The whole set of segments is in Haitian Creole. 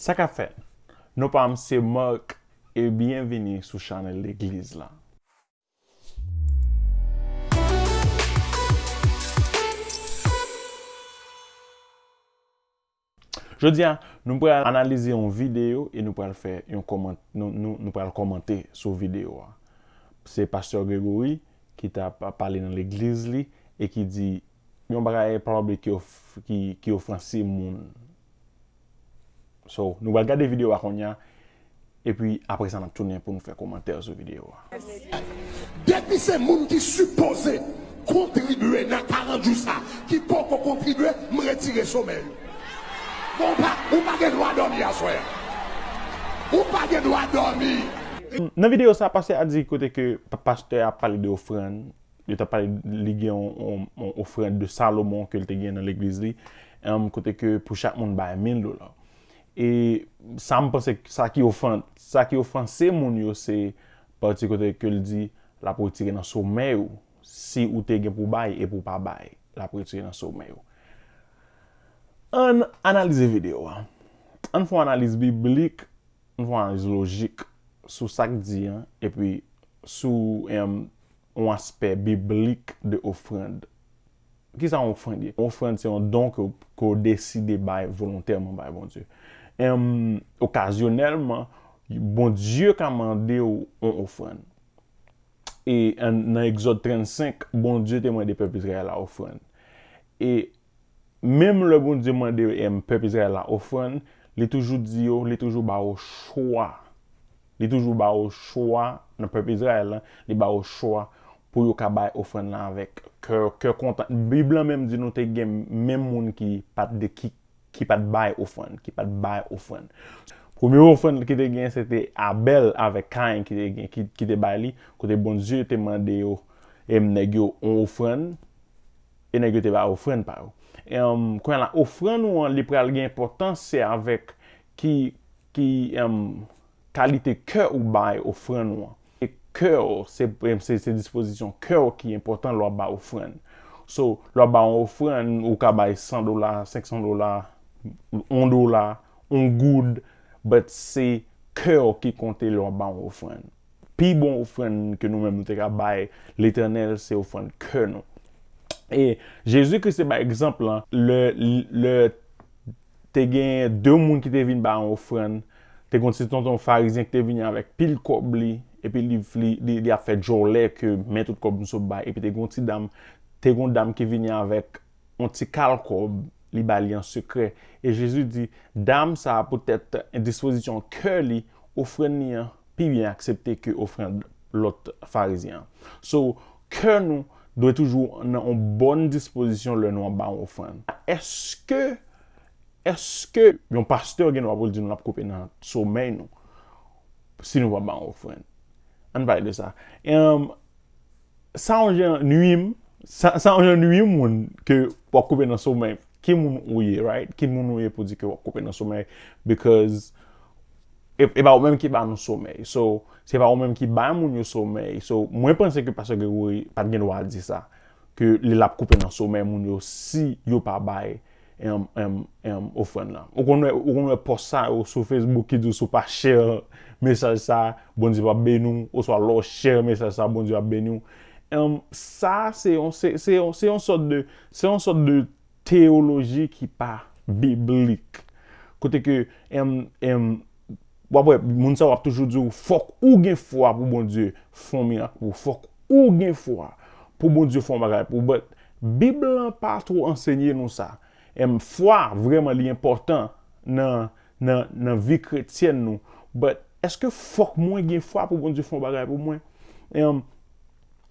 Sa ka fèt. Non pam se Marc e byen vini sou chanèl legliz la. Jodi a nou pral analize yon video e nou pral fè yon kòman nou pral kòmante sou video a. Se pastè Gregory ki tap pale nan legliz li e ki di Yon bagay en public ki ofanse moun. So, nou pral gade video a kounya, epi apre sa nap tounen pou nou fè komantè sou video a. Depi se moun ki sipoze kontribye nan 40 jou sa ki poko kontribye, m retire somè yo. Bon, ou pa gen dwa dòmi aswè a. Ou pa gen dwa dòmi. Nan video sa, pastè a di kote ke pastè a ap pale de ofrann, Yo t ap pale, li gen yon ofrand de Salomon ke l te gen nan legliz li, kote ke pou chak moun bay mil dola. E sa m panse, sa ki ofan, sa ki ofanse moun yo se pati kote ke l di l ap retire nan somèy ou, si ou te gen pou bay epi ou pa bay, l ap retire nan somèy ou. Ann analize videyo a. Ann fè yon analiz biblik, ann fè yon analiz lojik sou sa k di an epi sou Yon aspè biblik de ofrand. Kisa yon ofrand ye? Yon ofrand se yon don ke w deside bay volontèman bay Bondye. Em, okazyonèlman, Bondye ka mande w yon ofrand. E nan Egzòd 35, Bondye te mande pèp Izrayèl la ofrand. E Menm lè Bondye mande pèp Izrayèl la ofrann, li toujou di yo, li toujou ba yo chwa. Li toujou ba yo chwa nan pèp Izrayèl la, li ba yo chwa pou yo ka bay ofrann nan avèk kè, kè kontan. Bib la menm di nou te gen menm moun ki pa t de, ki, ki pa t bay ofrann, ki pa t bay ofrann. Premye ofrann ki te gen se te Abèl avèk Kayen ki te gen, ki, ki te bay li, kote Bondye te mande yo, nèg yo yon ofrann. E nèg yo te bay ofrann pa yo. Kounye la, ofrann ou an, li pral gen enpòtans se avèk ki kalite kè ou bay ofrann ou an. Se kè ou, se dispozisyon kè ou ki enpòtan lè w ap bay ofrann. So, lè w ap bay yon ofrann, ou ka bay 100 dola, 500 dola, 1 dola, 1 goud, but se kè ou ki konte lè w ap bay yon ofrann. Pi bon ofrann ke nou menm nou te ka bay Letènèl se ofrann kè nou. E Jezi Kris te bay egzanp lan lè lè te gen de moun ki te vin bay yon ofrann, te gon ti tonton farizyen ki te vini avèk pil kòb li, epi li li li ap fè djòlè ke men tout kòb misye bay, epi te gon ti dam te gon dam ki vini avèk yon ti kal kòb, li ba li an sekrè. E Jezi di, Dam sa a poutèt endispozisyon kè li, ofrann li an pi byen aksepte ke ofrann lòt Farizyen an. So, kè nou dwe toujou nan yon bòn dispozisyon lè nou ap ba yon ofrann. Èske, èske yon pastè gen dwa pou l di nou l ap koupe nan somèy nou si nou pa ba yon ofrann? Ann pale de sa. Sa yon jan nwi m. Sa yon jan nwi yon moun ke w ap koupe nan somèy. Ki moun ou ye, right? Ki moun ou ye pou di ke w ap koupe nan somèy? Bikòz e pa ou menm ki ba nou somèy. So, se pa ou menm ki bay moun yo somèy. So, mwen panse ke Pastè Gregory pa t gen dwa di sa. Ke li l ap koupe nan somèy moun yo si yo pa bay ofrann lan. Ou konn wè, ou konn wè pòs sa yo sou Facebook ki di w si w pa share mesaj sa, Bondye pap beni w, oswa lè w share mesaj sa Bondye ap beni w. Sa se yon, se, se yon, se yon sòt de, se yon sòt de teyoloji ki pa biblik. Kote ke. Wap wè, moun sa wap toujou di ou, fòk ou gen fwa pou Bondye fon mirak pou ou. Fòk ou gen fwa pou Bondye fon bagay pou ou. But, Bib lan pa two ansenye nou sa. Em, fwa, vreman li enpòtan nan, nan, nan vi kretyèn nou. But, eske fòk mwen gen fwa pou Bondye fon bagay pou mwen? Em,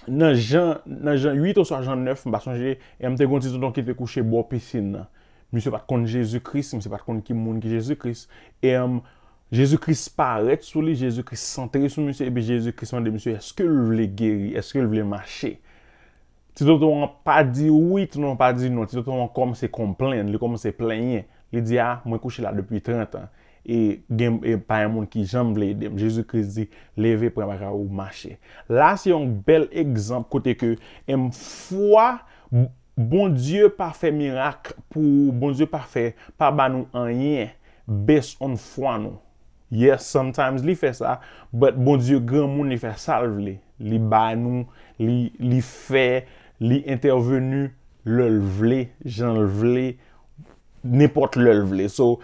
nan Jan, nan Jan 8 oswa Jan 9, m pa sonje, em, te gen yon ti tonton ki te kouche bò pisin nan. Misye pat konn Jezi Kris, misye pat konn ki moun ki Jezi Kris. Erm, Jezi Kris parèt sou li, Jezi Kris santre sou misye, epi Jezi Kris mande misye eske l vle geri, eske l vle mache. Ti tonton an pa di wi, ti tonton an pa di non, ti tonton an kòmanse konplenn, li kòmanse plenyen. Li di a, mwen kouche la depi 30 an, e gen, e pa gen moun ki janm vle ede m. Jezi Kris di, leve pran bagay ou mache. La se yon bèl egzanp kote ke, erm, fwa, Bondye pa fè mirak pou Bondye pa fè pa ba nou anyen based on fwa nou yes sometimes li fè sa but Bondye granmoun li fè sal vle li ba nou li li fè li entèvenu lèl vle janl vle nenpòt lèl vle so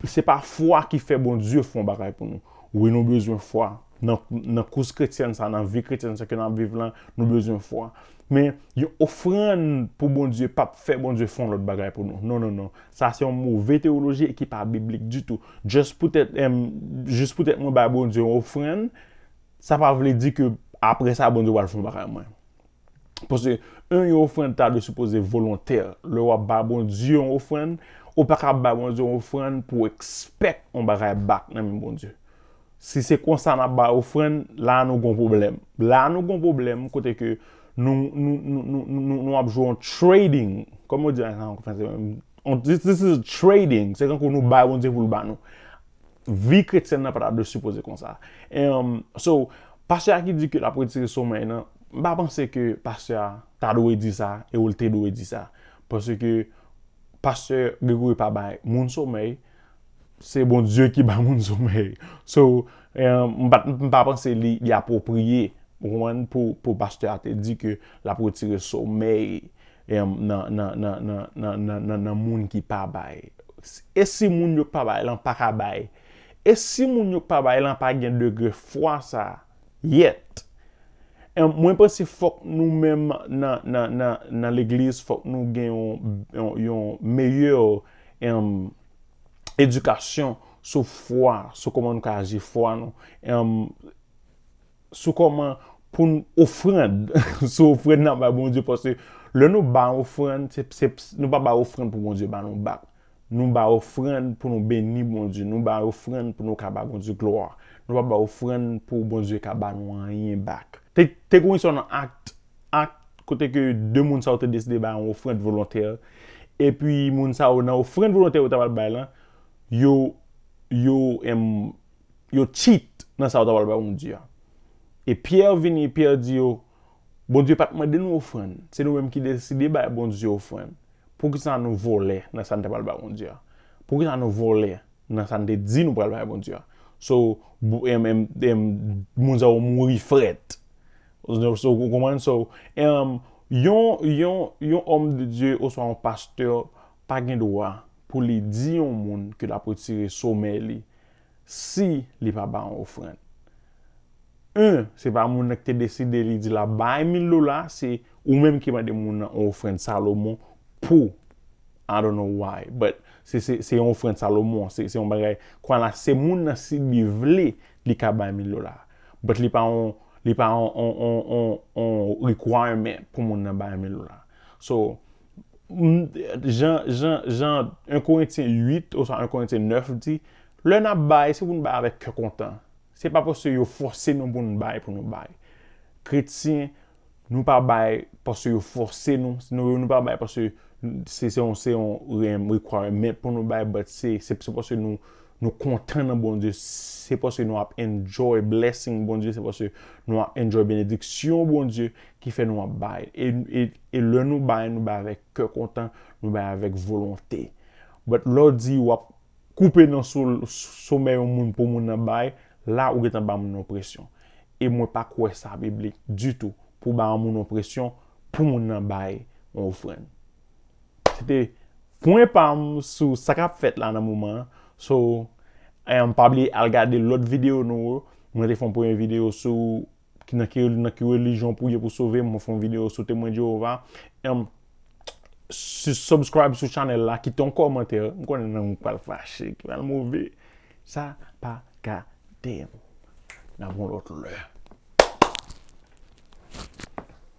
se pa fwa ki fè Bondye fon bagay pou nou wi nou bezwen fwa Nan kous kretyèn sa, nan vi kretyèn sa ke n ap viv lan, nou bezwen fwa. Men, yon ofrann pou Bondye p ap fè Bondye fè yon lòt bagay pou nou. Non, non, non. Sa se yon move teyoloji e ki pa biblik ditou. Jis poutèt, jis poutèt mwen bay Bondye yon ofrann, sa pa vle di ke apre sa Bondye pral fè yon bagay pou mwen. Paske, yon yon ofrann ta dwe sipoze volontè. Lè w ap bay Bondye yon ofrann, ou pa ka bay Bondye yon ofrann pou w ekspèk yon bagay bak nan men Bondye. Si se konsa nap bay ofrann, la nou gon pwoblèm. La nou gon pwoblèm kote ke nou ap jwe yon trading. Kòman yo di sa an franse menm? This is a trading. Se tankou nou bay Bondye pou l ba nou. Vi kretyèn nan pa ta dwe sipoze konsa. Um, so, pastè a ki di ke l ap retire somèy nan, m pa panse ke pastè a ta dwe di sa e ou l te dwe di sa. Paske pastè Gregory pa bay moun somèy. Se Bondye ki ba moun somèy. So, m pa panse li apwopriye, ou konprann, pou pastè a te di ke l ap retire somèy nan moun ki pa bay. E si moun yo k pa bay lan pa ka bay? E si moun yo k pa bay lan pa gen degre fwa sa a? Yet. Em mwen panse fok nou menm nan nan nan nan legliz fok nou gen yon yon yon meyè em edikasyon sou fwa sou koman nou ka aji fwa nou em sou koman poun ofrand sou ofrand nap bay Bondye paske lè nou bay ofrand se se nou pa bay ofrand pou Bondye ba nou bak. Nou bay ofrann pou nou beni Bondye. Nou bay ofrann pou nou ka ba Bondye glwa. Nou pa bay ofrann pou Bondye ka ba nou anyen bak. Te gen yon istwa nan Act, Act, kote ke 2 moun sa yo te deside bay yon ofrann volontè, epi moun sa yo nan ofrann volontè yo ta pral bay lan, yo, yo, em, yo cheat nan sa yo ta pral bay Bondye a. E Pierre vini, Pierre di yo, Bondye pa t mande nou ofrann, se nou menm ki deside bay Bondye ofrann. Poukisa nou vòlè nan sa n te pral bay Bondye a? Poukisa nou vòlè nan sa n te di nou pral bay Bondye a? So, moun sa yo mouri frèt. So, ou konprann? So, yon òm de Dye oswa yon pastè pa gen dwa pou li di yon moun ke l ap retire somèy li si li pa ba yon ofrann. Yn se pa moun nan ki te deside li di lap bay mil dola se ou menm ki mande moun nan yon ofrann Salomon pou I don't know why but se se se yon ofrann Salomon se se yon bagay kwa la se moun nan si li vle li ka bay mil dola but li pa yon li pa yon yon yon yon yon requirement pou moun nan bay mil dola so Jan, jan, jan 1 Korentyen 8 oswa 1 Korentyen 9 di, lè n ap bay, se pou n bay avèk kè kontan. Se pa paske yo fòse nou pou n bay pou nou bay. Kretyen, nou pa bay paske yo fòse nou, nou pa bay paske se yon, se yon requirement pou nou bay, but se, se paske nou, nou kontan nan Bondye, se paske nou ap enjoy blessing Bondye, se paske nou ap enjoy benediksyon Bondye ki fè nou ap bay. E, e. E lè nou bay, nou bay avèk kè kontan, nou bay avèk volonte. But lè w di wap koupe nan somè yon moun pou moun nan bay, la ou gentan ba moun nan presyon. E mwen pa kwè sa biblik ditou pou ba yon moun yon presyon pou moun nan bay yon ofrann. Se te pwen pa m sou sa kap fèt la nan moman an. So, pa bliye al gade lòt videyo nou yo. Mwen te fè yon premye videyo sou Ki nan ki nan ki religion pou ye pou sove mwen fon video sou temwen Jehova em si subscribe sou channel la kite yon kòmantè m konnen nan mwen pral fache ki pral move sa pa gade m nan bon lòt lè